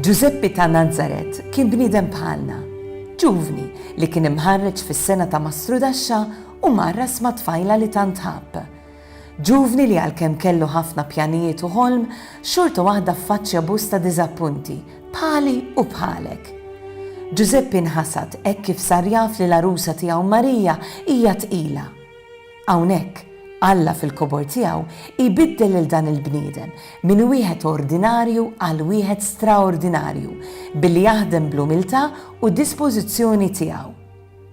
Ġużeppi ta' Nazaret kien bniedem bħalna, ġuvni li kien imħarreġ fis-sengħa ta' mastrudaxxa u mgħarras ma' tfajla li tant ħabb. Ġuvni li għalkemm kellu ħafna pjanijiet u ħolm, xorta waħda ffaċċja bosta diżappunti, bħali u bħalek. Ġużeppi nħasad hekk kif sar jaf li l-għarusa tiegħu Marija hija tqila. Hawnhekk, Alla fil-kobor tiegħu jbiddel lil dan il-bniedem minn wieħed ordinarju għal wieħed straordinarju billi jaħdem bl-umiltà u d-dispożizzjoni tiegħu.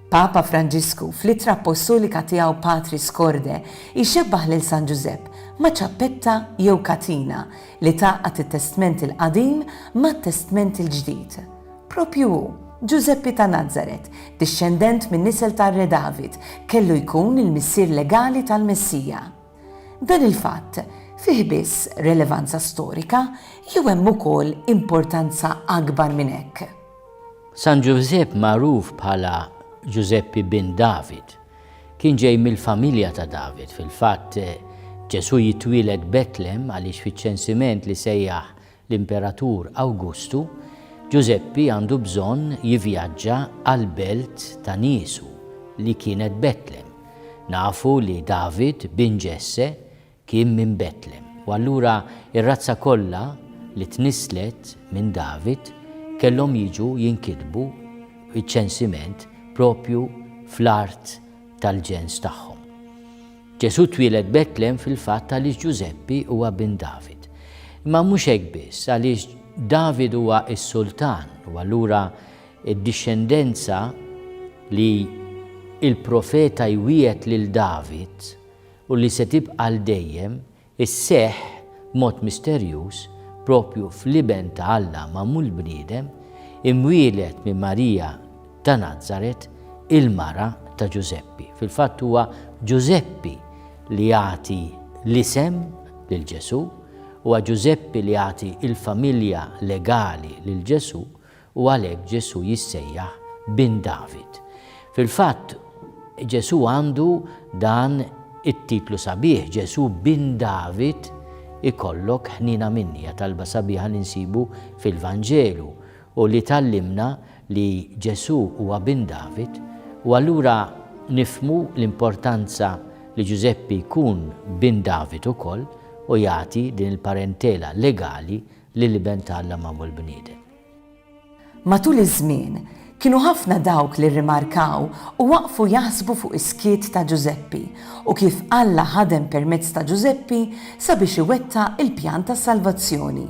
Papa Franġisku, fl-ittra appostolika tiegħu Patris Corde, jxebbah lil San Ġużepp ma' ċappetta jew katina li tgħaqqad it-Testment il-Qadim mat-Testment il-Ġdid. Proprju hu, Ġużeppi ta' Nazaret, dixxendent min-nisel tar-Re David, kellu jkun il-missier legali tal-Messija. Dan il-fatt fih biss relevanza storika jew hemm ukoll importanza akbar minn hekk? San Ġużepp magħruf bħala Ġużeppi bin David, kien ġej mill-familja ta' David. Fil-fatt, Ġesù jitwieled Betlem għaliex fiċ-ċensiment li sejjaħ l-Imperatur Awgustu, Ġużeppi għandu bżonn jivjaġġa għall-belt ta' niesu li kienet Betlem. Nafu li David, bin Ġesse, Kien minn Betlem, u allura r-razza kollha li tnisslet minn David kellhom jiġu jinkitbu iċ-ċensiment proprju fl-art tal-ġens tagħhom. Ġesù twieled Betlem fil-fatt għaliex Ġużeppi huwa bin David. Imma mhux hekk biss, għaliex David huwa s-sultan u allura d-dixxendenza li l-profeta jwiegħed lil David u li se tibqa' għal dejjem, isseħħ b'mod misterjuż proprju fl-Iben ta' Alla magħmul bniedem, imwieled minn Marija ta' Nazaret, il-mara ta' Ġużeppi. Fil-fatt huwa Ġużeppi li jagħti l-isem lil Ġesù, huwa Ġużeppi li jagħti l-familja legali lil Ġesù, U għalhekk Ġesù jissejjaħ Bin David. Fil-fatt, Ġesù għandu dan it-titlu sabiħ, Ġesù Bin David, Ikollok ħniena minni, hija talba sabiħa li nsibu fil-Vanġelu u li tgħallimna li Ġesù huwa Bin David, u allura nifhmu l-importanza li Ġużeppi jkun Bin David ukoll u jagħti din il-parentela legali lill-Iben ta' Alla magħmul bniedem. Matul iż-żmien, kienu ħafna dawk li rrimarkaw u waqfu jaħsbu fuq is-skiet ta' Ġużeppi u kif Alla ħadem permezz ta' Ġużeppi sabiex iwettaq il-pjan ta' salvazzjoni.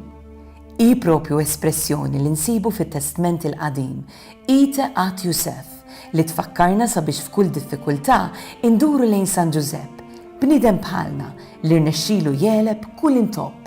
Hi proprju espressjoni li nsibu fit-Testment il-Qadim, Ite ad Iuseph, li tfakkarna sabiex f'kull diffikultà induru lejn San Ġużepp, bniedem bħalna li rnexxilu jegħleb kull intopp.